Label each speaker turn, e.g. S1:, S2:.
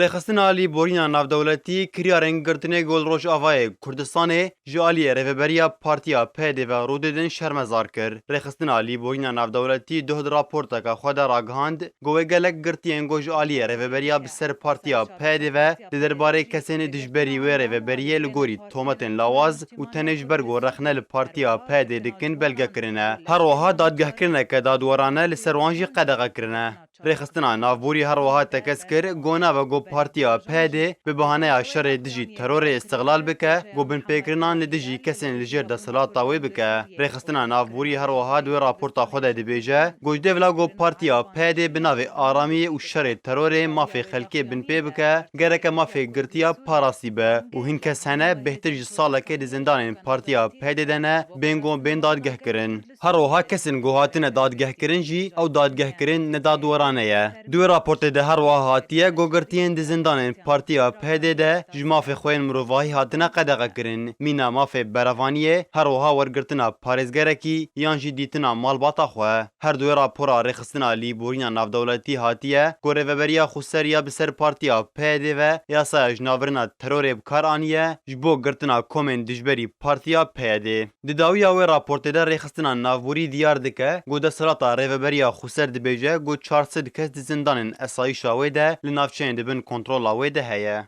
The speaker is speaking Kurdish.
S1: Rêxistina alî borîna navdewletî kiryarên girtinê gul Rojavayê Kurdistanê ji aliyê rêveberiya partiya PYD ve rûdê din şermezar kir. Rêxistina alî borîna navdewletî doh di raporteke xwe de ragihand ku wê gelek girtiyên ku ji aliyê rêveberiya bi ser partiya PYD ve di derbarê kesên dijberî wê rêveberiyê li gorî tometên lawaz û tenê ji ber ku rexne li partiya PYD dikin belge kirine. Her wiha dadgehkirineke dadwerane li ser wan jî qedexe kirine. Rêxistina navborî her wiha tekez kir ku nave ku Partiya PHD bi bahaneya şerê dijî terorê îstiqlal bike ku binpêkirinan li dijî kesên li jêr desthilata wê bike. Rêxistina navborî her wiha di wê raporta xwe de dibêje ku ji dê vila ku Partiya PHD bi navê aramiyê û şerê terorê mafê xelkê binpê bike gereke mafê girtiya parastî be û hin kes hene bêhtir ji salekê di zindanên Partiya PHD de ne bên ku bên dadgehkirin. Her wiha kesên ku hatine dadgehkirin jî ew dadgehkirin ne dadwerane ye. Di wê raportê de her wiha hatiye ku girtiyên di zindanên Partiya PHD'ê de ji mafê xwe yên mirovahî hatine qedexekirin, mîna mafê berevaniyê, her wiha wergirtina parêzgerekî yan jî dîtina malbata xwe. Her di wê rapora rêxistina lîborîna navdewletî hatiye ku Rêveberiya Xweser ya bi ser Partiya PHD'ê ve yasaya jinavêrina terorê bi kar aniye ji bo girtina komên dijberî Partiya PHD'ê. Di dawiya wê raportê de Rêxistina Navborî diyar dike ku desthilata Rêveberiya Xweser dibêje ku çar sed kes di zindanên esayîşa wê de li navçeyên di bin kontrola wê de heye.